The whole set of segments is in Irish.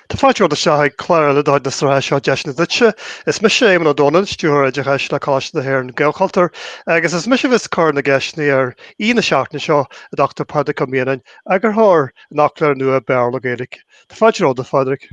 Tá fáilte romhat isteach ag clár ó Líonra na sraithe seo Deiseanna Duitse. Is mise Éamonn Ó Dónaill, Stiúrthóir Oideachais le Coláiste na hÉireann, Gaelchultúr, agus is mise a bheas ag cur na gceisteanna ar aoi na seachtaine seo, an Dr Pádraig Ó Mianáin, Eagarthóir an fhoclóra nua Béarla-Gaeilge. Tá fáilte romhat, a Phádraig.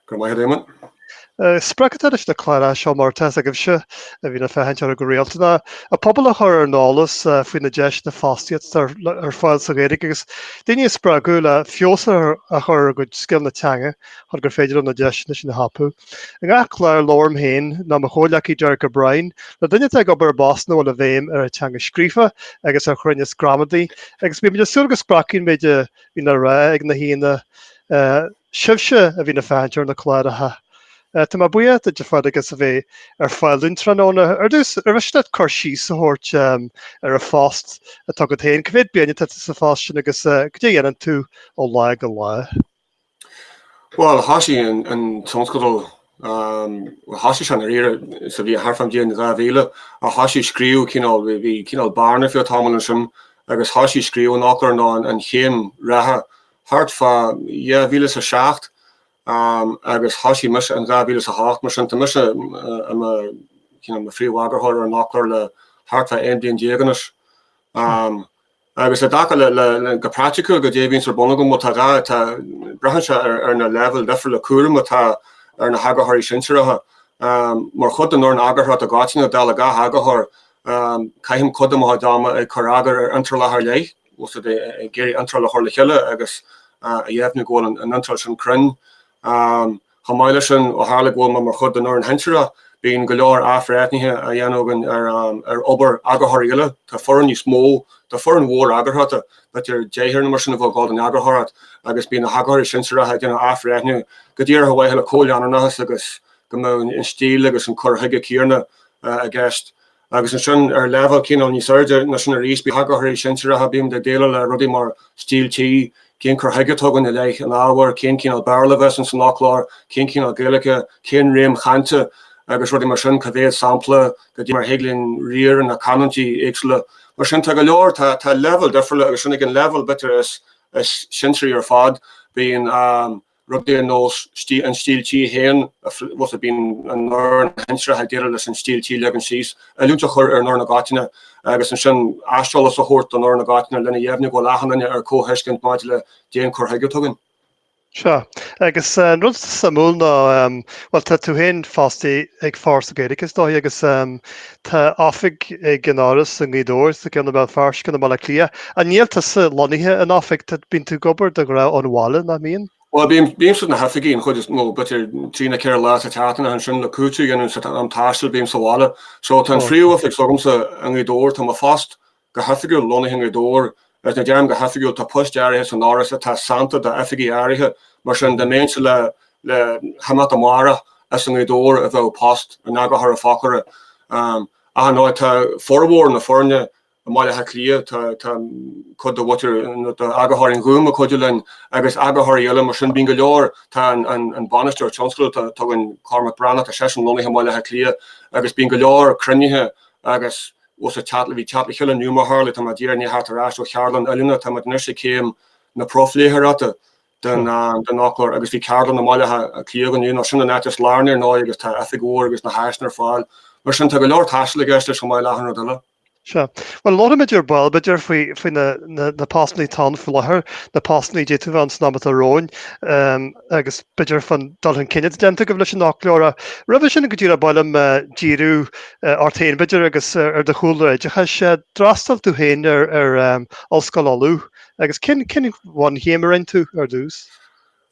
Go raibh maith agat, Éamonn. Sprioc atá leis na cláir seo, mar atá a fhios agaibhse, a bhíonn ag féachaint orthu go rialta, ná an pobal a chur ar an eolas faoi na deiseanna fostaíochta atá ar fáil sa Ghaeilge agus daoine a spreagadh le feabhas a chur ar a gcuid scileanna teanga chun gur féidir leo na deiseanna sin a thapú. I ngach clár labhraím féin nó mo chomhghleacaí Derek O'Brien le duine atá ag obair i bpost ina bhfuil an bhéim ar an teanga scríofa agus ar chruinneas gramadaí agus bímid ag súil go spreagann an méid a bhíonn le rá ag na haíonna Sibhse a bhíonn ag féachaint ar na cláracha, tá mé buíoch díot, a Phádraig, as a bheith ar fáil dúinn tráthnóna. Ar dtús, arbh mhiste leat cur síos a thabhairt ar an phost atá agat féin? Cé mhéad bliain atá tú sa phost sin agus cad é a dhéanann tú ó lá go lá? Bhuel, thosaigh an tionscadal, thosaigh sé i ndáiríre sa bhliain thart fán bhliain 2000 ach thosaigh scríobh cineál, bhí cineál bearna faoi cheann tamaill ansin agus thosaigh scríobh an fhoclóra nó an chéim reatha thart fá 2007 agus thosaigh mise in 2008, mar sin tá mise i mo, you know, phríomheagarthóir ar an fhoclóir le thart fá 11 bliain anois. Agus i dtaca le, go praiticiúil, cad é an fhíorobair a bhíonn agam, bhuel tá dhá, tá, braitheann sé ar na leibhéil dhifriúla cúraim atá ar na heagarthóirí sinsearacha. Mar chuid den fhoireann eagarthóireachta i gcoitinne, dála gach eagarthóir, caithim cuid de mo chuid ama ag cur eagar ar iontrálacha ar leith, Is é sin ag iarraidh iontráil a chur le chéile agus a dheimhniú go bhfuil an iontráil sin cruinn. Chomh maith leis sin, ó tharla go bhfuil mé mar chuid den fhoireann shinsearach, bíonn go leor athbhreithnithe á dhéanamh againn ar obair eagarthóirí eile. Tá foireann níos mó, tá foireann mhór eagarthóireachta, b'fhéidir deichniúr nó mar sin a bhíonn ag gabháil don eagarthóireacht agus bíonn na heagarthóirí sinsearacha ag déanamh athbhreithniú go díreach ar mhaithe le comhleanúnachas agus go mbeadh an stíl agus an cur chuige céanna i gceist. Agus ansin, ar leibhéal cineál níos airde ná sin arís, bíonn eagarthóirí sinsearacha, bímid ag déileáil le rudaí mar, stíl tí, cén cur chuige a tugann i leith an ábhair, cén cineál Béarla a bheas ins an fhoclóir, cén cineál Gaeilge, cén réim chainte agus rudaí mar sin, cá mhéad sampla, cad é mar a thig linn riar ar na canúintí éagsúla. Mar sin, tá go leor, tá leibhéal difriúla agus ansin ag an leibhéal, b'fhéidir, is sinsearaí ar fad, bíonn, rudaí ar nós an stíl tí féin, óir bíonn an fhoireann shinsearach ag déileáil leis an stíl tí a leagan síos, oiliúint a chur ar an fhoireann i gcoitinne agus ansin aiseolas a thabhairt don fhoireann i gcoitinne lena dheimhniú go bhfuil achan duine ar comhthuiscint maidir le cén cur chuige a tugann. Sea. Agus an rud suimiúil ná, bhuel, tá tú féin fostaí ag Foras na Gaeilge, is dóigh, agus Tá oifig ag an fhoras i nGaoth Dobhair, is ceann i mBéal Feirste is i mBaile Átha Cliath. An bhfuil tusa lonnaithe in oifig? Bíonn tú ag obair de ghnáth ón bhaile, nach mbíonn? Bhuel, bímse sna hoifigí an chuid is mó, b'fhéidir trí nó ceithre lá sa tseachtain, ach ansin le cúiteamh a dhéanamh ar an taisteal bím sa bhaile. So tá an phríomhoifig s'agamsa i nGaoth Dobhair, tá mo phost Go hoifigiúil, lonnaithe i nGaoth Dobhair, is ní deirim go hoifigiúil, tá poist áirithe san fhoras atá sannta d'oifigí áirithe, mar sin dá mbeinnse le himeacht amárach, is i nGaoth Dobhair a bheadh post an eagarthóra foclóra. Ach ar ndóigh, tá formhór na foirne i mBaile Átha Cliath, tá cuid de mhuintir, nó d'eagarthóirí an Ghúim ag cuidiú linn, agus eagarthóirí eile, mar sin bíonn go leor, tá an bainisteoir tionscadail atá againn, Cormac Breathnach, tá seisean lonnaithe i mBaile Átha Cliath, agus bíonn go leor cruinnithe agus. Mar shampla, bhí ceardlann inniu mar a tharlaigh, tá mé i ndiaidh a theacht ar ais ó cheardlann oiliúna, táimid anois ag céim na profléitheoireahta den den fhoclóir agus bhí ceardlann i mBaile Átha Cliath inniu, nó sin an áit is lárnaí ar ndóigh agus tá oifig mhór agus na háiseanna ar fáil. Mar sin tá go leor taistil i gceist leis chomh maith le achan rud eile. Sea. Bhuel, labhróimid ar ball b'fhéidir faoi faoi na na na postannaí atá ann faoi láthair, na postannaí a d'fhéadfadh a bheith ann san am atá romhainn ehm agus b'fhéidir fán dul chun cinn atá déanta agaibh leis an fhoclóir ach roimhe sin go díreach ba mhaith liom díriú Ort féin, b'fhéidir, agus ar do chúlra oideachais. D'fhreastail tú féin ar Ollscoil Uladh agus cén bhunchéim a rinn tú ar dtús?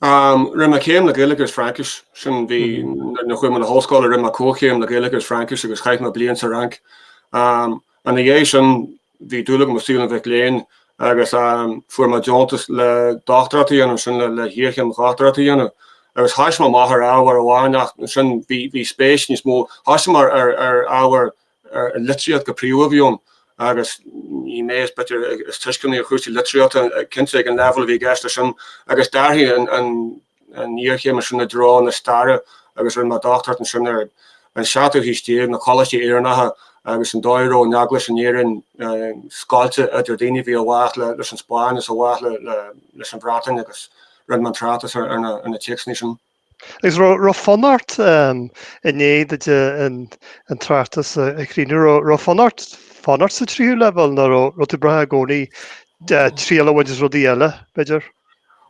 Rinne mé céim le Gaeilge agus Fraincis. Sin bhí, nuair a chuaigh mé 'na hollscoile, rinne mé comhchéim le Gaeilge agus Fraincis agus chaith mé bliain sa Fhrainc. Ina dhiaidh sin, Bhí dúil agam i saol an mhic léinn agus fuair mé deontas le dochtúireacht a dhéanamh ansin, le hiarchéim dhochtúireacht a dhéanamh. Agus thoisigh mé amach ar ábhar amháin ach ansin bhí spéis níos mó, thoisigh mé ar ábhar, ar litríocht go príomha a bhí ann agus ní mé is b'fhéidir is tuisceanaí ar chúrsaí litríochta, cinnte ag an leibhéal a bhí i gceist leis sin, agus d'athraigh an, an iarchéim ansin i dtreo na staire agus rinne mé dochtúireacht ansin ar an seachtú haois déag, na coláistí Éireannacha agus an dóigh a raibh an eaglais in Éirinn scoilte idir daoine a bhí i bhfách leis an Spáinn is i bhfách leis an Bhreatain agus rinne mé an tráchtas ar na téacsanna sin. Agus raibh fonn ort, i ndiaidh duit an tráchtas a chríochnú, raibh fonn ort fanacht sa tríú leibhéal nó raibh tú ag brath i gcónaí triail a bhaint as rudaí eile, b'fhéidir?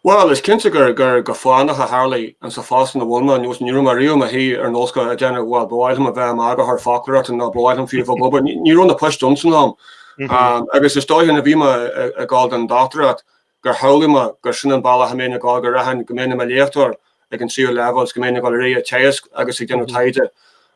Bhuel, is cinnte gur go fánach a tharlaigh mé sa phost ina bhfuil mé nó ní raibh mé riamh i mo shuí ar an ollscoil ag rá, bhuel, ba mhaith liom a bheith i m'eagarthóir foclóireachta nó ba mhaith liom fiú a bheith ag obair, ní raibh na poist ann san am. Agus is dóigh nuair a bhí mé ag dul don dochtúireacht gur shamhlaigh mé gur sin an bealach a mbeinn ag dul, go rachfainn, go mbeinn i mo léachtóir ag an tríú leibhéal is go mbeinn ag dul ar aghaidh ag teagasc agus ag déanamh taighde.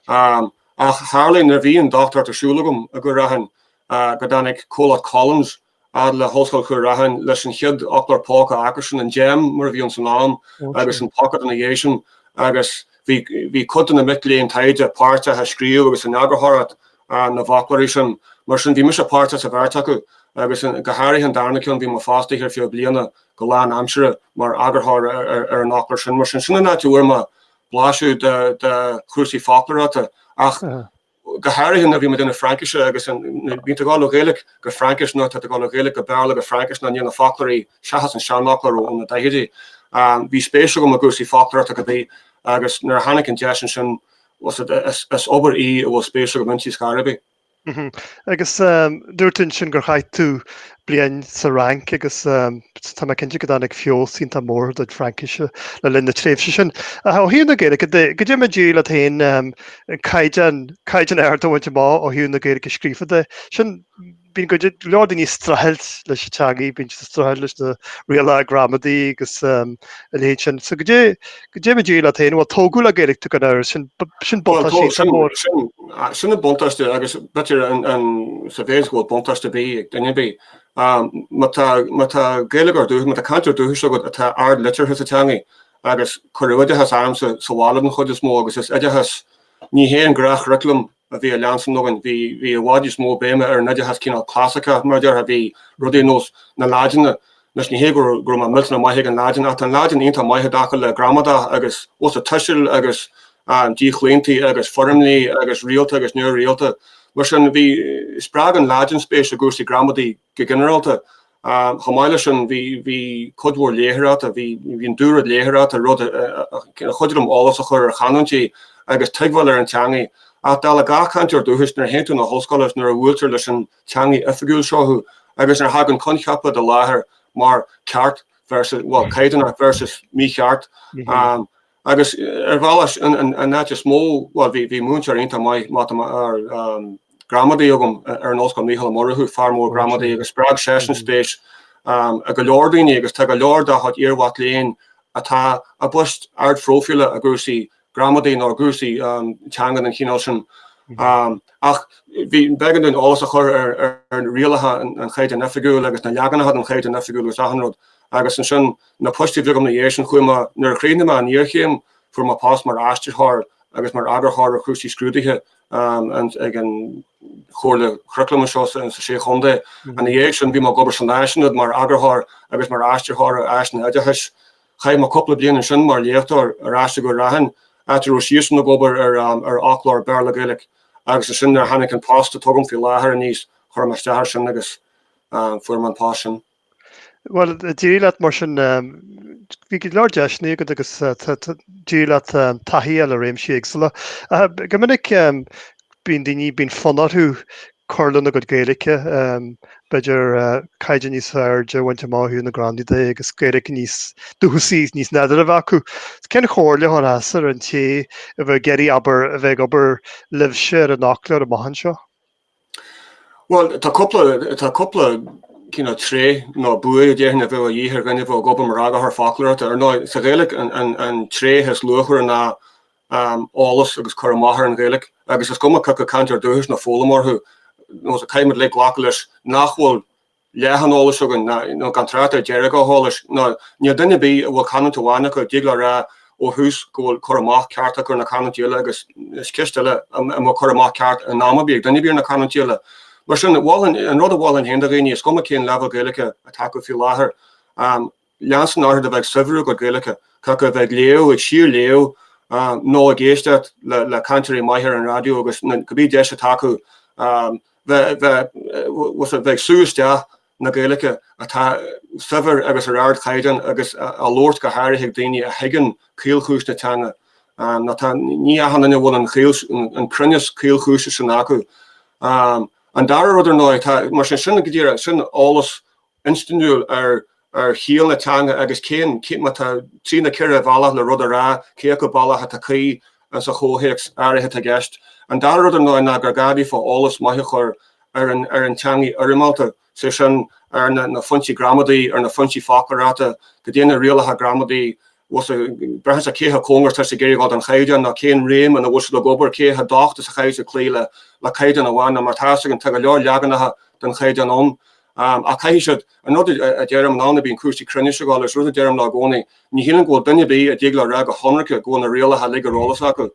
Ach tharla nuair a bhí an dochtúireacht ar siúl agam go rachfainn, go dtáinig comhlacht Collins, fhad le hOllscoil Chúil Rathain leis an chéad fhoclóir póca acusan, an Gem mar a bhí ann san am, agus an Pocket ina dhiaidh sin, agus bhí cuid de na mic léinn taighde páirteach i scríobh agus in eagarthóireacht na bhfoclóirí sin. Mar sin, bhí mise páirteach sa bheirt acu, agus go háirithe an darna ceann, bhí mé fostaithe ar feadh bliana go lánaimseartha mar eagarthóir ar an fhoclóir sin. Mar sin, sin an áit a bhfuair mé blaiseadh de chúrsaí foclóireachta, ach go háirithe nuair a bhí mé ag déanamh Fraincise agus bíonn tú ag dul ó Ghaeilge go Fraincis nó tá tú ag dul ó Ghaeilge go Béarla go Fraincis nó níl na foclóirí, seachas an seanfhoclóir ó na daichidí, ann. Bhí spéis agam i gcúrsaí foclóireachta cibé agus nuair a tháinig an deis ansin, is obair í a bhfuil spéis agam inti ar scor ar bith. Agus dúirt tú ansin gur chaith tú bliain sa Fhrainc agus tá mé cinnte go dtáinig feabhas iontach mór ar do Fraincis le linn na tréimhse sin. Ó thaobh na Gaeilge de, goidé mar a d'éirigh leat féin caighdeán ard a bhaint amach ó thaobh na Gaeilge scríofa de, sin, bíonn go leor daoine ag streachailt leis an teangaidh, bíonn siad ag streachailt leis na rialacha gramadaí agus a leithéid sin. So goidé. Goidé mar a d'éirigh leat féin, bhuel, tógadh le Gaeilge tú gan amhras, sin, sin buntáiste iontach mór. Bhuel, sin, sin, sin an buntáiste agus b'fhéidir an, an, sa mhéid is go bhfuil buntáiste ar bith ag duine ar bith. Má tá, má tá Gaeilgeoir dúchais, má tá cainteoir dúchais agat atá ardliteartha sa teangaidh agus cuireadh oideachas orm sa, sa bhaile den chuid is mó agus is oideachas, ní hé an gnáthchuraclam a bhí á leanstan againn. Bhí i bhfad níos mó béime ar an oideachas cineál clasaiceach, mar a déarfá, bhí rudaí ar nós na Laidine, anois ní hé go raibh mé millteanach maith ag an Laidin ach tá an Laidin iontach maith i dtaca le gramadach agus usa tuisil agus díochlaontaí agus foirmlí agus rialta agus neamhrialta, mar sin bhí, spreag an Laidin spéis i gcúrsaí gramadaí go ginearálta Chomh maith leis sin, bhí cuid mhór léitheoireachta, bhí an dúrud léitheoireachta, rud a chuidigh liom eolas a chur ar chanúintí agus tuigbheáil ar an teangaidh. Ach dála gach cainteoir dúchais, nuair a théann tú chun na hollscoile is nuair a bhuailtear leis an teangaidh oifigiúil seo thú agus nuair a thagann coincheapa i do láthair mar 'ceart' versus, bhuel, 'caighdeánach' versus 'mícheart', Agus ar bhealach sin an áit is mó, bhuel, bhí múinteoir iontach maith gramadaí agam ar an ollscoil, Mícheál Ó Murchú, fear mór gramadaí, agus spreag seisean spéis i go leor daoine agus tá go leor dá chuid iarmhac léinn atá i bpoist ardphróifíle i gcúrsaí gramadaí nó i gcúrsaí teanga den chineál sin. Ach bhí, b'éigean dúinn eolas a chur ar rialacha an Chaighdeáin Oifigiúil agus na leaganacha den Chaighdeán Oifigiúil agus achan rud agus ansin Na poist a bhí agam ina dhiaidh sin, chuaigh mé, nuair a chríochnaigh mé an iarchéim, fuair mé post mar aistritheoir agus mar eagarthóir ar chúrsaí scrúdaithe ag an Chomhairle Churaclaim anseo sa Sé Chontae. Ina dhiaidh sin, bhí mé ag obair san Áisaonad mar eagarthóir agus mar aistritheoir ar áiseanna oideachais. Chaith mé cúpla bliain ansin mar léachtóir ar ais i gCúil Raithin, áit a raibh siadsan ag obair ar fhoclóir Béarla-Gaeilge, agus ansin nuair a tháinig an post atá agam faoi láthair aníos, chuir mé isteach air sin agus fuair mé an post sin. Bhuel, d'éirigh leat mar sin. Bhí go leor deiseanna agat agus d'éirigh leat taithí a fháil ar réimsí éagsúla. Go minic bíonn daoine, bíonn fonn orthu cur lena gcuid Gaeilge, b'fhéidir caighdeán níos airde a bhaint amach, ó thaobh na gramadaí de, agus Gaeilge níos dúchasaí, níos nádúrtha a bheith acu. Cén chomhairle a chuirfeása ar an té a bheadh ag iarraidh, abair, a bheith ag obair libhse ar an fhoclóir amach anseo? Bhuel, tá cúpla, tá cúpla cineál tréith nó buaidh a déarfainn a bheadh a dhíth ar dhuine a bheadh ag obair mar eagarthóir foclóireachta. Ar ndóigh, sa Ghaeilge an, an, an tréith is luachmhaire ná eolas agus cur amach ar an Ghaeilge agus is cuma cé acu cainteoir dúchais nó foghlaimeoir thú, nó caithfimid uilig glacadh leis nach bhfuil leath an eolais againn, nó gan trácht ar deireadh an eolais, nó níl duine ar bith a bhfuil canúint amháin acu a dtig leo rá ó thús go bhfuil cur amach ceart acu ar na canúintí eile, agus is ceist eile an bhfuil cur amach ceart in am ar bith ag duine ar bith ar na canúintí eile. Mar sin, mholfainn, an rud a mholfainn féin do dhaoine, is cuma cén leibhéal Gaeilge atá acu faoi láthair, leanstan orthu a bheith ag saibhriú a gcuid Gaeilge, cé acu a bheith ag léamh, ag síor-léamh nó ag éisteacht le cainteoirí maithe ar an raidió agus cibé deis atá acu bheith ag sú isteach na Gaeilge atá saibhir agus ar ardchaighdeán agus á labhairt go háirithe ag daoine a thuigeann caolchúis na teanga. Ní achan duine a bhfuil an cruinneas caolchúise sin acu. An dara rud ar ndóigh, mar sin sin go díreach, sin eolas instinniúil ar chiall na teanga agus cén, má tá trí nó ceithre bhealach le rud a rá, cé acu bealach atá cuí sa chomhthéacs áirithe atá i gceist. An dara rud ar ndóigh ná gur gá daofa eolas maith a chur ar an teangaidh fhoirmeálta, is é sin, ar na foinsí gramadaí, ar na foinsí foclóireachta, goidé na rialacha gramadaí agus breithiúnas ar cé chomh cóngarach atá siad ag iarraidh dhul don Chaighdeán nó cén réim ina bhfuil siad ag obair, cé chomh docht is a chaithfidh siad cloí le Caighdeán amháin nó mar tá 's againn, tá go leor leaganacha den Chaighdeán ann. Ach caithfidh siad, an rud a deirim, an t-am a mbíonn cúrsaí cruinnis ag dul, is rud a deirim leo i gcónaí, ní shílim go bhfuil duine ar bith a dtig leo rá go hionraice go bhfuil na rialacha uilig ar eolas acu.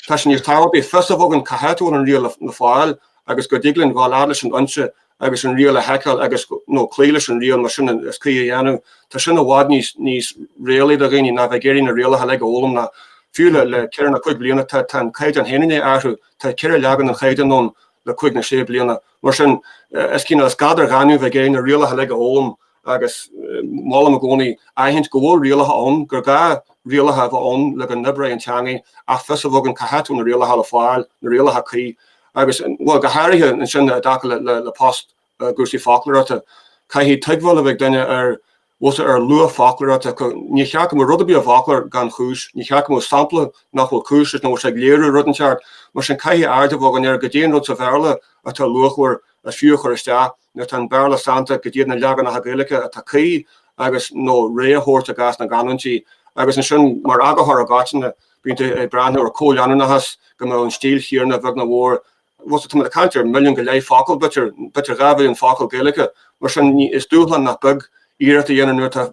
Tá sé níos tábhachtaí fios a bheith againn cá háit a bhfuil an riail le fáil agus go dtig linn dhul fhad leis an fhoinse agus an riail a sheiceáil agus, nó cloí leis an riail más sin is cuí a dhéanamh. Tá sin i bhfad níos réalaí do dhaoine ná bheith ag iarraidh na rialacha uilig a fhoghlaim nó fiú le ceithre nó cúig bliana tá an caighdeán féin i ndiaidh athrú, tá ceithre leagan den chaighdeán ann le cúig nó sé bliana. Mar sin, is cineál, is gad ar ghaineamh bheith ag iarraidh na rialacha uilig a fhoghlaim agus molaim i gcónaí aithint go bhfuil rialacha ann, gur gá rialacha a bheith ann le go n-oibreoidh an teangaidh ach fios a bheith againn cá háit a bhfuil na rialacha le fáil, na rialacha cuí. Agus, bhuel, go háirithe ansin i dtaca le post i gcúrsaí foclóireachta, caithfidh tuigbheáil a bheith ag duine ar chúrsaí, ar luach foclóireachta. Níor cheart go mbeadh rud ar bith i bhfoclóir gan chúis, níor cheart go mbeadh sampla nach bhfuil cúis leis nó nach bhfuil sé ag léiriú rud inteacht. Mar sin, caithfidh aird a bheith againn ar cad é an rud sa Bhéarla atá luachmhar, is fiú a chur isteach, nuair atá an Béarla sannta, cad iad na leaganacha Gaeilge atá cuí agus, nó rogha a thabhairt i gcás na gcanúintí. Agus ansin, mar eagarthóir i gcoitinne, bíonn tú ag breathnú ar chomhleanúnachas, go mbeadh an stíl chéanna a bheag nó a mhór Agus tá muid ag caint ar mhilliún go leith focal, b'fhéidir, b'fhéidir dhá mhilliún focal Gaeilge, mar sin is dúshlán nach beag iarracht a dhéanamh nuair atá,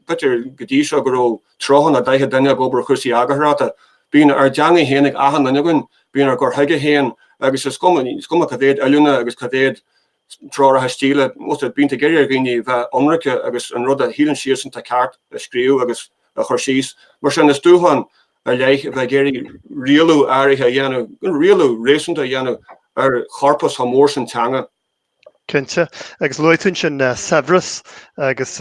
b'fhéidir, go dtí seo go raibh tríocha nó daichead duine ag obair ar chúrsaí eagarthóireachta. Bíonn ár dteanga féin ag achan duine againn, bíonn ár gcur chuige féin agus is cuma, is cuma cá mhéad oiliúna agus cá mhéad treoracha stíle atá, bíonn tú ag iarraidh ar dhaoine a bheith ionraic agus an rud a shíleann siadsan atá ceart a scríobh agus a chur síos, mar sin is dúshlán ar leith a bheith ag iarraidh rialú áirithe a dhéanamh, rialú réasúnta a dhéanamh ar chorpas chomh mór sin teanga. Cinnte, agus luaigh tú ansin saibhreas agus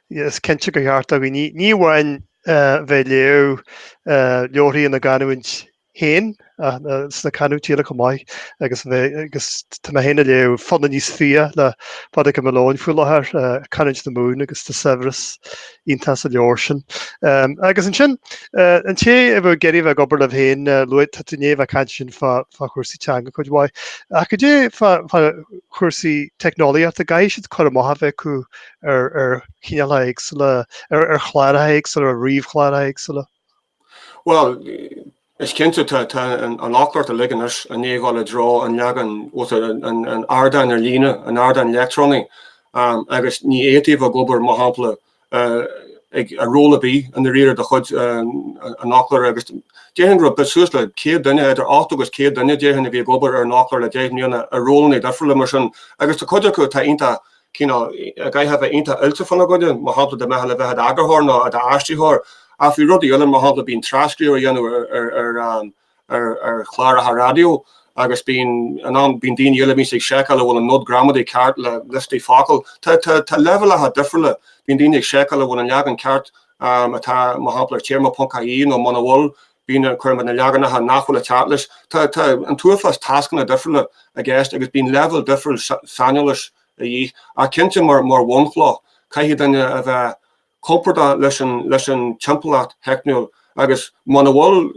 is cinnte gur cheart do dhaoine ní amháin bheith ag léamh leabharthaí ina gcanúint féin ach sna canúintí eile chomh maith agus tá mé féin ag léamh Fonn a Níos Fiach le Pádraig Ua Maoileoin faoi láthair, canúint na Mumhan agus tá saibhreas iontach sa leabhar sin. Agus ansin, an té a bheadh ag iarraidh bheith ag obair libh féin, luaigh, tá tú i ndiaidh a bheith ag caint ansin fá chúrsaí teanga cuid mhaith, ach cad é fá chúrsaí teicneolaíochta, an gcaithfidh siad cur amach a bheith acu ar chineálacha éagsúla, ar chláracha éagsúla, ar ríomhchláracha éagsúla. Bhuel, is cinnte tá an fhoclóireacht uilig anois i ndiaidh dhul i dtreo an leagain nó, an ardáin ar líne, an ardáin leictreonaigh, agus ní fhéadfaí a bheith ag obair, mar shampla, ag ról ar bith i ndáiríre de chuid an fhoclóra, agus déarfainn go raibh suas le céad duine, idir ochtó agus céad duine, déarfainn, a bhí ag obair ar an fhoclóir le deich mbliana i rólanna difriúla mar sin, agus tá cuid acu atá iontach cineál a gcaithfeá bheith iontach oilte fána gcoinne, mar shampla, dá mbeifeá le bheith i d'eagarthóir nó i d'aistritheoir, ach bhí rudaí eile, mar shampla, bíonn tras-scríobh a dhéanamh ar chláracha raidió agus bíonn in am, bíonn daoine eile a mbíonn siad ag seiceáil an bhfuil an nod gramadaí ceart le liostaí focal, tá leibhéalacha difriúla, bíonn daoine ag seiceáil an bhfuil an leagan ceart atá, mar shampla, ar théarma ponc ie, nó muna bhfuil, bíonn an cur amú na leaganacha nach bhfuil ag teacht leis. Tá an t-uafás tascanna difriúla i gceist agus bíonn leibhéal difriúil saineolais a dhíth, ach cinnte mar bhunchloch caithfidh duine a bheith compordach leis an timpeallacht theicniúil agus muna bhfuil,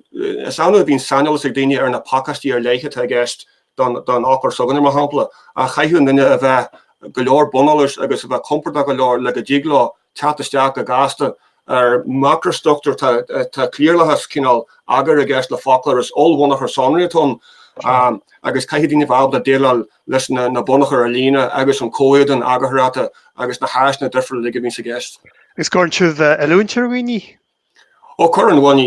is annamh a bhíonn saineolas ag daoine ar na pacáistí ar leith atá i gceist don fhoclóir s'againne mar shampla, ach caithfidh an duine a bheith go leor buneolais agus a bheith compordach go leor le go dtig leo teacht isteach go gasta ar mhacrastruchtúr, tá cliarlathas, cineál eagair i gceist le foclóir, is ollbhunachar sonraí atá ann agus caithfidh daoine a bheith ábalta déileáil leis na bunachair ar líne agus an comhéadan eagarthóireachta agus na háiseanna difriúla uilig a bhíonns i gceist. Agus an gcuireann sibh oiliúint ar dhaoine Ó cuireann, bhuel ní,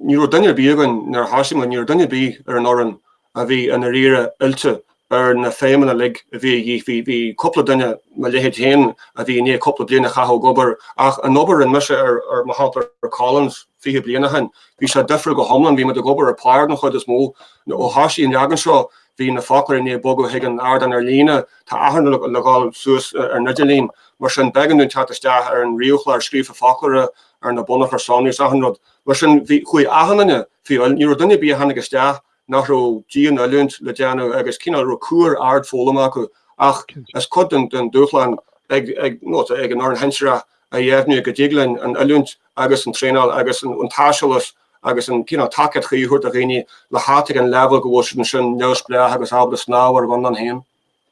ní raibh duine ar bith againn nuair a thosaigh muid, ní raibh duine ar bith ar an fhoireann a bhí i ndáiríre oilte ar na feidhmeanna uilig a bhí a dhíth, bhí, bhí cúpla duine, mo leithéid féin a bhí i ndiaidh cúpla bliain a chaitheamh ag obair, ach an obair a rinne mise ar, mar shampla ar Collins fiche bliain ó shin, bhí sé difriúil go hiomlán, bhí muid ag obair ar pár den chuid is mó, ó thosaigh an leagan seo Bhí na foclóirí i ndiaidh bogadh chuig an ardán ar líne, tá achan rud le dhul suas ar an idirlíon, mar sin b'éigean dúinn teacht isteach ar an ríomhchlár scríofa foclóra, ar na bunachair sonraí is achan rud. Mar sin, bhí, chuaigh achan duine faoi oiliúint, ní raibh duine ar bith a tháinig isteach nach raibh dian-oiliúint le déanamh agus cineál, raibh cuar ard foghlama acu ach is cuid den dúshlán ag an fhoireann shinsearach a dheimhniú go dtig linn an oiliúint agus an traenáil agus an t-aiseolas agus an cineál tacaíocht chuí a thabhairt do dhaoine le theacht ag an leibhéal go bhfuil siad ansin neamhspleách agus ábalta snámh ar a gconlán féin.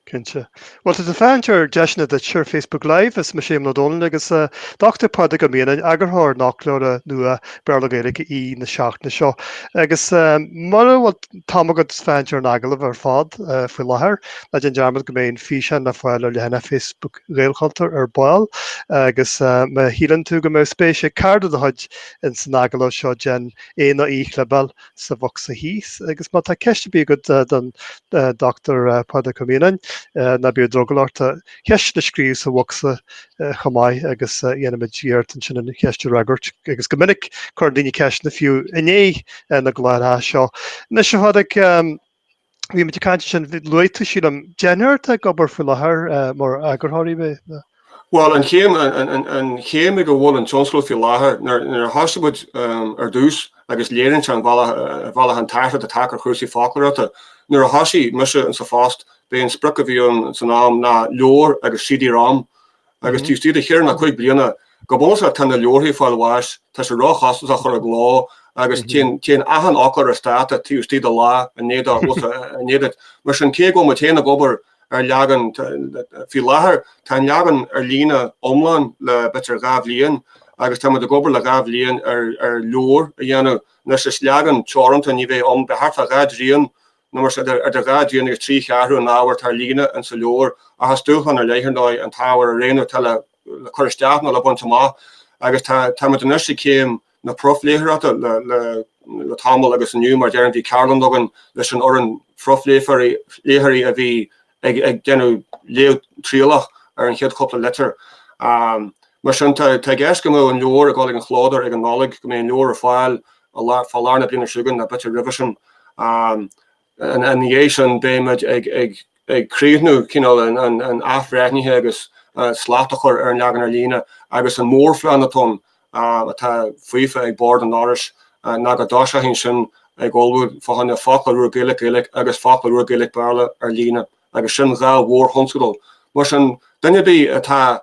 Cinnte. Bhuel tá tú ag féachaint ar Deiseanna Duit ar Facebook Live, is mise Éamonn Ó Dónaill agus Dr Pádraig Ó Mianáin, eagarthóir an fhoclóra nua Béarla-Gaeilge aoi na seachtaine seo. Agus mura bhfuil an t-am agat féachaint ar an agallamh ar fad faoi láthair, ná déan dearmad go mbeidh an físeán le fáil ar leathanach Facebook Ghaelchultúir ar ball. Agus má shíleann tú go mbeadh spéis ag cara de do chuid In san agallamh seo déan é nó í a chlibeáil sa bhocsa thíos agus má tá ceist ar bith agat don Dr Pádraig Ó Mianáin ná bíodh drogall ort do cheist a scríobh sa bhocsa chomh maith agus dhéanfaimid iarracht ansin an cheist a fhreagairt agus go minic cuireann daoine ceisteanna fiú i ndiaidh na gcláracha seo. Anois a Phádraig, bhí muid ag caint ansin, luaigh tú, sílim, deichniúr atá ag obair faoi láthair mar eagarthóirí, ab é? Bhuel, an chéim, an chéim ag a bhfuil an tionscadal faoi láthair, nuair a thosaigh muid ar dtús agus léiríonn sé ar bhealach an t-athrú atá tagtha ar chúrsaí foclóireachta, nuair a thosaigh mise insa phost, b'é an sprioc a bhí ann san am ná leabhar agus CD-ROM agus taobh istigh de cheithre nó cúig bliana, go bunúsach, tá na leabharthaí ag fáil bháis, tá sé ró-chostasach chur i gcló agus téann achan fhoclóir as dáta taobh istigh de lá, i ndiaidh dó fhos a ndéanamh. Mar sin, cé go bhfuil muid féin ag obair ar leagan, faoi láthair, tá an leagan ar líne iomlán le b'fhéidir dhá bhliain agus tá muid ag obair le dhá bhliain ar leabhar a dhéanamh. Anois, is leagan teoranta, ní bheidh ann, beidh thart fá dhá dtrian nó mar sin, idir dhá dtrian agus trí cheathrú den ábhar atá ar líne insa leabhar, ach is dúshlán ar leith, ar ndóigh, an t-ábhar a roghnú atá le cur isteach nó le baint amach, agus tá muid anois ag céim na profléitheoireachta le tamall, agus inniu, mar a deirim, bhí ceardlann againn leis an fhoireann phrofléitheoirí a bhí ag déanamh léamh trialach ar an chéad chúpla litir. Mar sin, tá i gceist go mbeadh an leabhar ag dul ag an chlódóir ag an Nollaig, go mbeidh an leabhar ar fáil fá lár na bliana seo chugainn nó b'fhéidir roimhe sin. Ina dhiaidh sin, beidh muid ag críochnú cineál an athbhreithnithe agus slacht a chur ar an leagan ar líne agus an mórphlean atá ann atá faofa ag Bord an Fhorais ná go dtosófaí ansin ag ullmhú fá choinne Foclóir úr Gaeilge-Gaeilge agus Foclóir úr Gaeilge-Béarla ar líne agus sin dhá mhórthionscadal. Mar sin, duine ar bith atá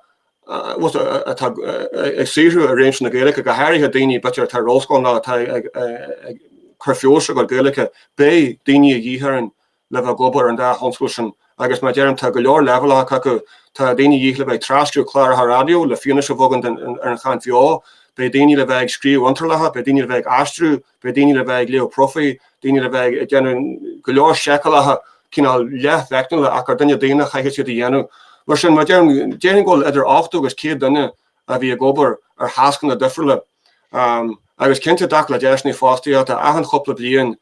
atá ag saothrú i réimse na Gaeilge, go háirithe daoine b'fhéidir atá ar ollscoil nó atá ag cur feabhais ar a gcuid Gaeilge, beidh daoine a dhíth orainn le bheith ag obair ar an dá thionscadal sin agus mar a deirim tá go leor leibhéalacha acu, tá daoine a dhíth le bheith ag tras-scríobh cláracha raidió le fianaise a bheith againn ar an chaint bheo, beidh daoine le bheith ag scríobh iontrálacha, beidh daoine le bheith ag aistriú, beidh daoine le bheith ag léamh profaí, daoine le bheith ag déanamh go leor seiceálacha cineál leath-mheicniúla ach gur duine daonna a chaithfidh iad a dhéanamh. Mar sin, mar a deirim, déarfainn go bhfuil idir 80 agus 100 duine a bhí ag obair ar thascanna difriúla agus cinnte i dtaca le deiseanna fostaíochta, achan chúpla bliain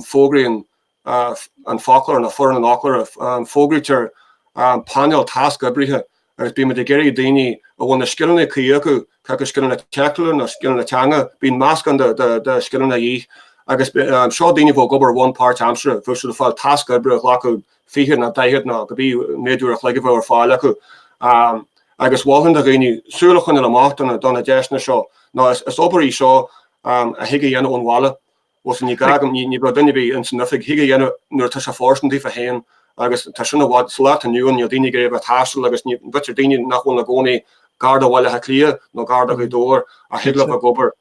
fógraíonn an foclóir nó foireann an fhoclóra, fógraítear painéal tasc oibrithe agus bíonn muid ag iarraidh daoine a bhfuil na scileanna cuí acu, cé acu scileanna teicniúla nó scileanna teanga, bíonn meascán de scileanna de dhíth, agus seo daoine a bheadh ag obair ar bhonn páirtaimseartha, bheadh siad ag fáil tasc oibre a ghlacfadh 20 nó 40 nó cibé méad uair a chloig a bheadh ar fáil acu. Agus mholfainn do dhaoine súil a choinneáil amach do na deiseanna seo nó is obair í seo a thig a dhéanamh ón bhaile. Bhuel, ní gá agam, ní bheadh duine ar bith ins an oifig thig a dhéanamh nuair atá sé fóirsteanach daofa féin agus tá sin i bhfad, sa lá atá inniu ann níl daoine ag iarraidh a bheith ag taisteal agus b'fhéidir daoine nach bhfuil ina gcónaí gar do Bhaile Átha Cliath nó gar do Ghaoth Dobhair a thig leo a bheith ag obair,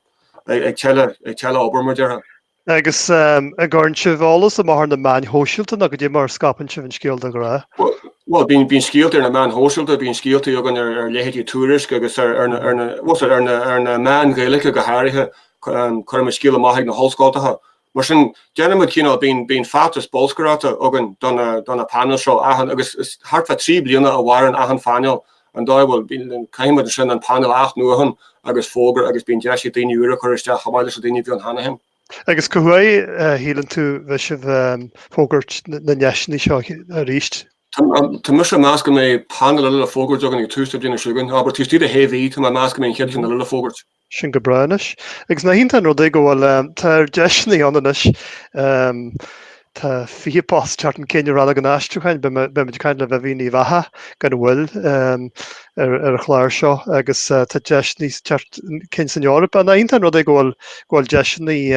ag teile, ag teile obair mar a déarfá. Agus an gcuireann sibh eolas amach ar na meáin shóisialta nó cad é mar a scaipeann sibh an scéal de ghnáth? Bhuel, bíonn, bíonn scéalta ar na meáin shóisialta, bíonn scéalta againn ar, ar leithéidí Tuairisc agus ar, ar na, ar na, bhuel ar na, ar na meáin Ghaeilge go háirithe, Cuireann muid scéala amach chuig na hollscoltacha. Mar sin, déanann muid cineál, bíonn, bíonn feachtas bolscaireachta againn do na, do na painéil seo, achan, agus is thart fá trí bliana a mhaireann achan phainéal, an dóigh a bhfuil, bíonn, caithfidh muid ansin an painéal a athnuachan agus fógairt agus bíonn deis ag daoine úra cur isteach chomh maith leis na daoine a bhí ann cheana féin. Agus cá huair a shíleann tú a bheas sibh ag fógairt na ndeiseanna seo arís? Tá, tá mise ag meas go mbeidh painéal eile le fógairt againn ag tús na bliana seo chugainn, abair taobh istigh de shé mhí, tá mé ag meas go mbeidh an chéad cheann eile le fógairt. Sin go breá anois. Agus nach iontach an rud é go bhfuil toir deiseannaí ann anois. Tá fiche post ag teacht chun cinn i Rannóg an Aistriúcháin, beimid ag caint le Vivian Uíbh Eachach gan mhoill ar an chlár seo, agus tá deiseannaí ag teacht chun cinn san Eoraip ann. Nach iontach an rud é go bhfuil deiseannaí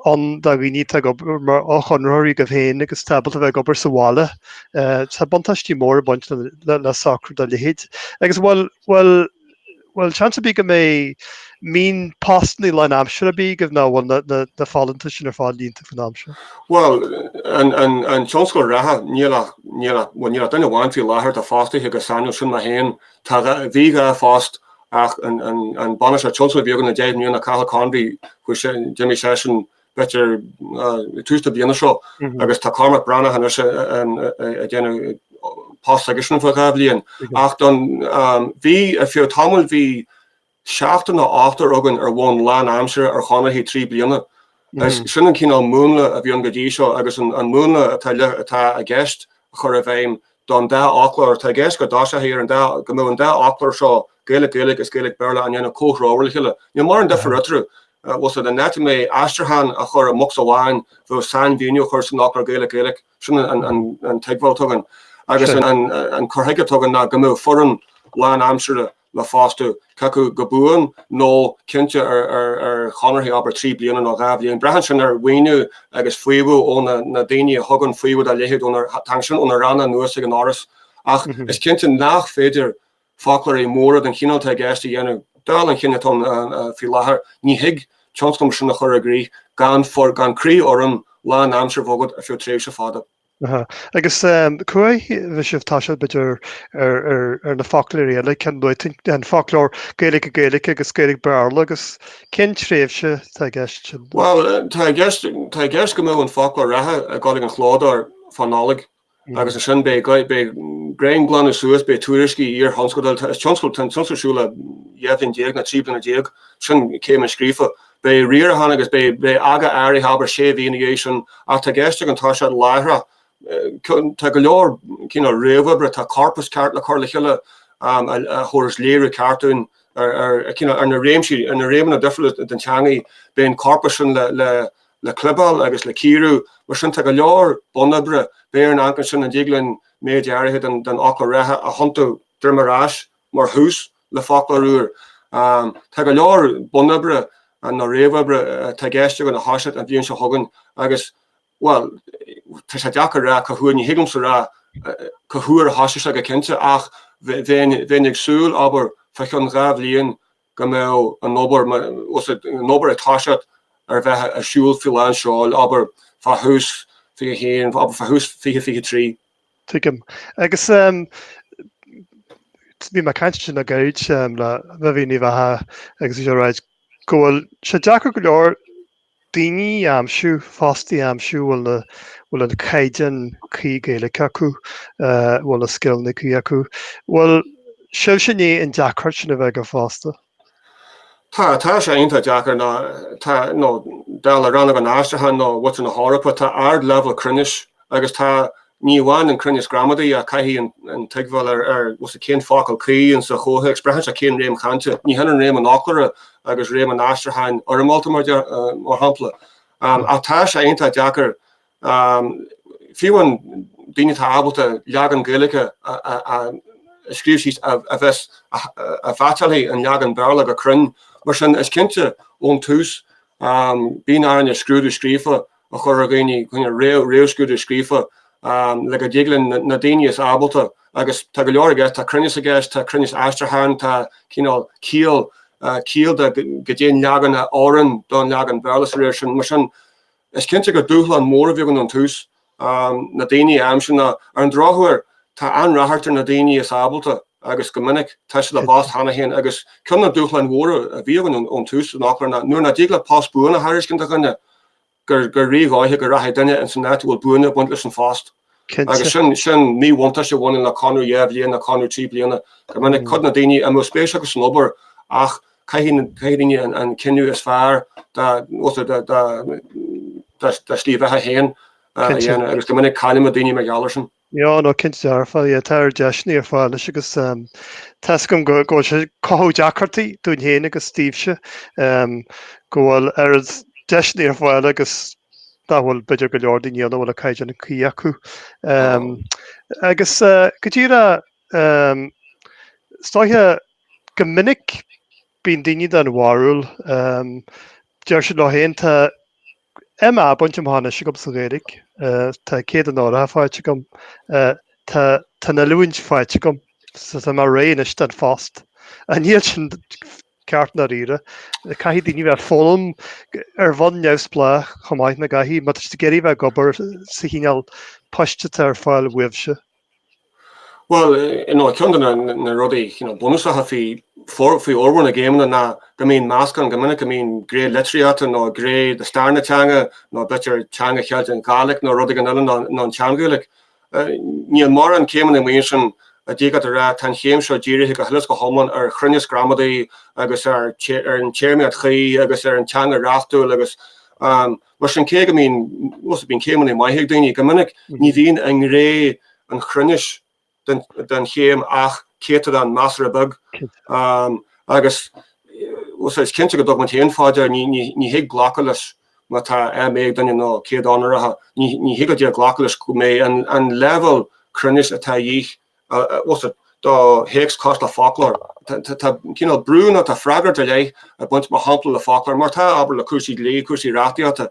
ann do dhaoine atá ag obair mar fhochonraitheoirí agaibh féin agus atá ábalta bheith ag obair sa bhaile. Tá buntáistí móra ag baint le socrú dá leithéid. Agus bhuel, bhuel, Bhuel, seans ar bith go mbeidh aon phostannaí lán aimsire ar bith agaibh nó an bhfuil na folúntais sin ar fad líonta faoin am seo? Bhuel, an tionscadal reatha, níl ach, níl ach, bhuel, níl ach duine amháin faoi láthair atá fostaithe go sainiúil, sin mé féin. Tá dhá, bhí dhá phost ach an, an, an bainisteoir tionscadail a bhí againn le deich mbliana, Cathal Convey, chuaigh sé, d'imigh seisean b'fhéidir tús na bliana seo agus tá Cormac Breathnach anois ag déanamh post s'aigesean fá dhá bhliain ach don bhí ar feadh tamaill bhí seachtar nó ochtar againn ar bhonn lán aimsire ar chonarthaí trí bliana agus sin an cineál múnla a bhí ann go dtí seo agus an múnla atá i gceist a chur i bhfeidhm don dá fhoclóir. Tá i gceist go dtosofaí ar an dá, go mbeadh an dá fhoclóir seo, Gaeilge-Gaeilge is Gaeilge-Béarla, á ndéanamh comhthreomhar le chéile. Níl mórán difir eatarthu. Bhuel, san áit a mbeidh aistriúchán á chur i mbocsa amháin, bheadh sainmhíniú á chur san fhoclóir Gaeilge-Gaeilge. Sin an tuigbheáil atá againn, agus an cur chuige atá againn ná go mbeadh foireann lánaimseartha, le fostú, cé acu go buan, nó cinnte ar chonarthaí, abair, trí bliana nó dhá bhliain. Braitheann sin ar mhaoiniú agus faomhadh ó na daoine a thugann faomhadh dá leithéid, tagann sin ó na ranna anuas ag an Fhoras. Ach is cinnte nach féidir foclóirí móra den chineál atá i gceist a dhéanamh, dála an chinn atá ann faoi láthair. Ní thig tionscnamh mar sin a chur i gcrích gan croí-fhoireann lán-aimseartha a bheith agat ar feadh tréimhse fada. Aha. Agus cá huair a bheas sibh ag toiseacht b'fhéidir ar na foclóirí eile cén nuacht an foclóir Gaeilge Gaeilge agus Gaeilge Béarla agus cén tréimhse tá i gceist? Bhuel tá i gceist tá i gceist go mbeadh an foclóir reatha ag gabháil chuig an chlódóir fá Nollaig agus ansin beidh beidh tréan glanadh suas beidh tuairiscí iarthionscadail tá tionscadal tá an tionscadal ar siúl le dhá bhliain déag nó trí bliana déag sin céim a scríofa Beidh riarachán agus beidh aga áirithe, abair sé mhí nó ina dhiaidh sin, ach tá i gceist againn toiseacht láithreach. Tá go leor réamhoibre, tá corpas ceart le cur le chéile a thabharfas léiriú ceart dúinn ar na réimsí, ar na réimeanna difriúla den teangaidh. Bíonn an corpas sin le clibeáil agus le cíorú. Mar sin, tá go leor bunoibre. Beidh ar an acmhainn sin, an dtig linn méid áirithe den fhoclóir reatha a thiontú droim ar ais mar thús, le foclóir úr. Tá go leor bunoibre nó réamhoibre atá i gceist againn a thoiseacht an bhliain seo chugainn agus, bhuel, tá sé deacair a rá cá huair, ní thig liomsa a rá cá huair a thoisfidh sé go cinnte ach bheinn ag súil, abair, fá chionn dhá bhliain go mbeadh an obair, an obair ag toiseacht ar bheith ar siúl faoi lánseol, abair, fá thús 21, abair, fá thús 2023. Tuigim. Agus bhí mé ag caint ansin le gairid le Vivi Ní Bheatha agus í sin ag ráit go bhfuil sé deacair go leor daoine a aimsiú, fostaí a aimsiú a bhfuil an caighdeán cuí Gaeilge acu, a bhfuil na scileanna cuí acu. Bhfuil sibhse i ndiaidh an deacracht sin a bheith agaibh fosta? Tá, tá sé iontach deacair, nó tá, nó dála Rannóg an Aistriúcháin nó fud na hEorpa, tá ard-leibhéal cruinnis agus tá, ní amháin an cruinneas gramadaí ach caithfidh an, an tuigbheáil ar, ar, bhfuil a fhios agat, cén focal cuí in sa chomhthéacs, braitheann sé cén réim chainte, ní hionann réim an fhoclóra agus réim an aistriúcháin fhoirmeálta mar, mar shampla. Ach tá sé iontach deacair fiú amháin daoine atá ábalta leagan Gaeilge a scríobh síos a bheas, a mheaitseálfaidh an leagan Béarla go cruinn. Mar sin, is cinnte ón tús bíonn orainn scrúdú scríofa a chur ar dhaoine, réamhscrúdú scríofa, le go dtig linn na daoine is ábalta, agus tá go leor i gceist, tá cruinneas i gceist, tá cruinneas aistriúcháin, tá cineál ciall, ciall go dtéann leagan a oireann don leagan Béarla sa réim sin. Mar sin, Is cinnte gur dúshlán mór a bhí againn ón tús, na daoine a aimsiú. Ar an drochuair, tá an-ráchairt ar na daoine is ábalta agus, go minic, tá siad i bpost cheana féin agus ceann de na dúshláin mhóra a bhí againn ón tús san fhoclóir ná nuair nach dtig leat post buan a thairiscint do dhuine, gur rídhóiche go rachaidh duine insan áit a bhfuil buaine ag baint leis an phost. Agus sin míbhuntáiste a bhaineann le conradh dhá bhliain nó conradh trí bliana. Go minic, cuid de na daoine is mó spéis acu san obair, ach caithfidh daoine an cinneadh is fearr dá slí bheatha féin a dhéanamh, agus go minic cailleann muid daoine mar gheall air sin. Ó, nó cinnte dearfa, sea, tá oiread deiseanna ar fáil anois agus tá a fhios agam go bhfuil sé ag cothú deacrachtaí dúinn féin agus daoibhse go bhfuil oiread deiseanna ar fáil agus dá bhfuil, b'fhéidir, go leor daoine ann a bhfuil an caighdeán cuí acu. Agus go díreach is dóiche go minic bíonn daoine den bharúil, deir siad leo féin, tá MA bainte amach anois agam sa Ghaeilge, tá céad onóracha faighte agam, tá an oiliúint faighte agam, tá mé réidh anois don phost. Ach níl sin Ceart i ndáiríre. Caithfidh daoine bheith ag foghlaim ar bhonn neamhspleách chomh maith, nach gcaithfidh? Má tá siad ag iarraidh bheith ag obair sa chineál poist atá ar fáil uaibhse. Bhuel, you know, ceann de na rudaí, you know, bunúsacha faoi fhormhór na gcéimeanna ná go mbíonn meascán, go minic go mbíonn gné litríochta nó gné de stair na teanga nó, b'fhéidir, teanga Cheilteach, Gaelic nó rud éigin eile, nó an tSean-Ghaeilic. Níl mórán céimeanna amuigh ansin, a d'fhéadfá a rá, tá an chéim seo dírithe go huile is go hiomlán ar chruinneas gramadaí agus ar an téarmaíocht chuí agus ar an teanga reachtúil agus mar sin, cé go mbíonn, bhuel, bíonn céimeanna maithe ag daoine, go minic ní bhíonn i ngné an chruinnis den chéim ach céatadán measartha beag agus, bhuel, is cinnte go dtug muid féin fá dear, ní thig glacadh leis. Má tá MA ag duine, nó céad onóracha, ní thig leat glacadh leis go mbeidh an leibhéal cruinnis atá a dhíth acu do théacs cosúil le foclóir. Tá cineál brú nó tá freagracht ar leith ag baint, mar shampla, le foclóir, mar atá, abair, le cúrsaí dlí, cúrsaí reachtaíochta,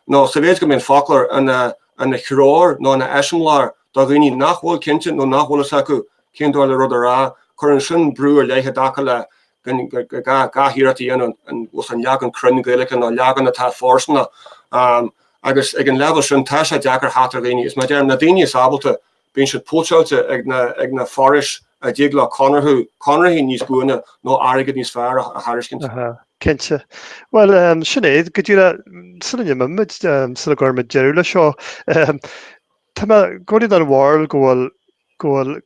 nó sa mhéid is go mbeidh an foclóir ina threoir nó ina eiseamláir do dhaoine nach bhfuil cinnte nó nach bhfuil a fhios acu Cén dóigh le rud a rá? Cuireann sin brú ar leith i dtaca le gach iarracht a dhéanamh agus an leagan cruinn Gaeilge nó leagan atá fóirsteanach. Agus ag an leibhéal sin tá sé deacair teacht ar dhaoine. Is mar a deirim, na daoine is ábalta, bíonn siad póitseáilte ag na forais a dtig leo conarthú, conarthaí níos buaine nó airgead níos fearr a thairiscint. Cinnte. Bhuel, sin é, go díreach sula n-imímid, sula gcuirfimid deireadh leis seo, tá mé i gcónaí den bharúil go bhfuil go bhfuil,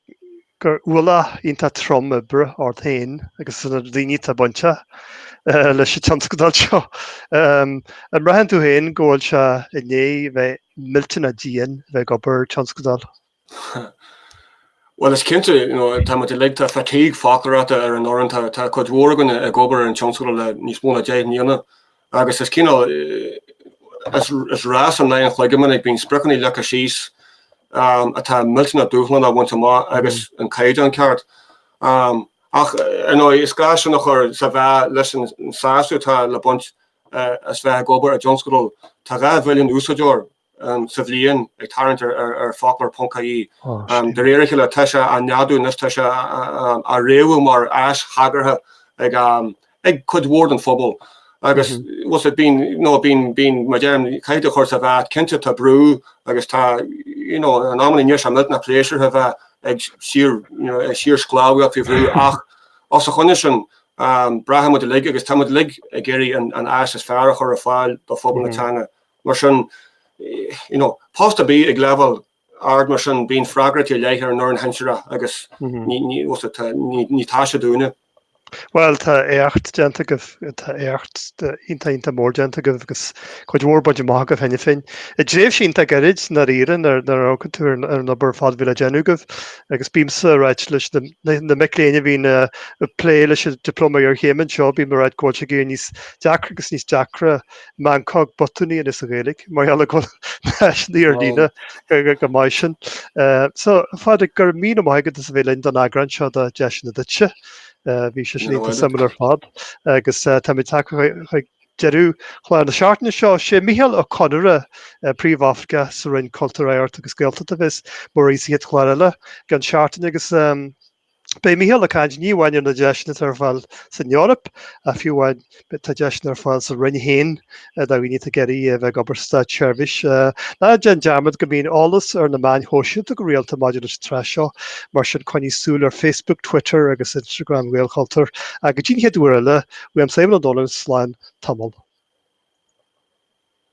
gur ualach iontach trom oibre ort féin agus na daoine atá bainteach leis an tionscadal seo. An mbraitheann tú féin go bhfuil sé i ndiaidh bheith millteanach dian bheith ag obair tionscadal? Bhuel, is cinnte, tá muid uilig, tá fatigue, foclóireachta, ar an fhoireann, tá cuid mhór againne ag obair ar an tionscadal le níos mó ná deich mbliana, Agus is cineál, is rás in aghaidh an chloig go minic, bíonn spriocanna leagtha síos atá millteanach dúshlánach a bhaint amach agus an caighdeán ceart. Ach ar ndóigh, is gá sin a chur sa mheá leis an sásamh atá le baint as bheith ag obair i dtionscadal. Tá dhá bhilliún úsáideoir sa bhliain, ag tarraingt ar Foclóir ponc ie. De réir a chéile tá sé á neadú anois, tá sé á fhréamhú mar áis thagartha ag cuid mhór den phobal agus bíonn, mar a deirim, caithfidh tú a chur sa mheá, cinnte tá brú agus tá, you know, in amanna níl sé millteanach pléisiúrtha a bheith ag síorshclábhaíocht faoi bhrú ach os a choinne sin braitheann muid uilig agus tá muid uilig ag iarraidh an áis is fearr a chur ar fáil do phobal na teanga. Mar sin, you know, post ar bith ag leibhéal ard mar sin, bíonn freagrachtaí ar leith ar an fhoireann shinsearach agus ní taise dúinne. Bhuel, tá éacht déanta agaibh, tá éacht iontach, iontach mór déanta agaibh agus cuid mhór bainte amach agaibh cheana féin i dtréimhse iontach gairid i ndáiríre nuair a amharcann tú ar an obair ar fad a bhí le déanamh agaibh agus bímse ag ráit leis na mic léinn a bhíonn ag plé leis an Dioplóma Iarchéime anseo, bím ag ráit go bhfuil sé ag éirí níos deacra agus níos deacra meancóg, botúin a dhéanamh sa Ghaeilge mar gheall air go bhfuil na háiseanna ar líne chomh maith sin. So, a Phádraig, go raibh míle maith agat as a bheith linn don eagrán seo de Deiseanna Duitse. Bhí sé sin iontach suimiúil ar fad agus táimid tagtha chuig deireadh chlár na seachtaine seo. Sé Micheál Ó Conaire, Príomhoifigeach sa Roinn Cultúir, Oidhreachta agus Gaeltachta, a bheas mar aoi sa chéad chlár eile i gceann seachtaine agus Beidh Micheál ag caint, ní amháin ar na deiseanna atá ar fáil san Eoraip, ach fiú amháin, tá deiseanna ar fáil sa Roinn féin do dhaoine atá ag iarraidh a bheith ag obair sa Státseirbhís. Ná déan dearmad go mbíonn eolas ar na meáin shóisialta go rialta maidir leis an tsraith seo, mar sin coinnigh súil ar Facebook, Twitter agus Instagram Ghaelchultúir. Go dtí an chéad uair eile, uaimse, Éamonn Ó Dónaill, slán tamall.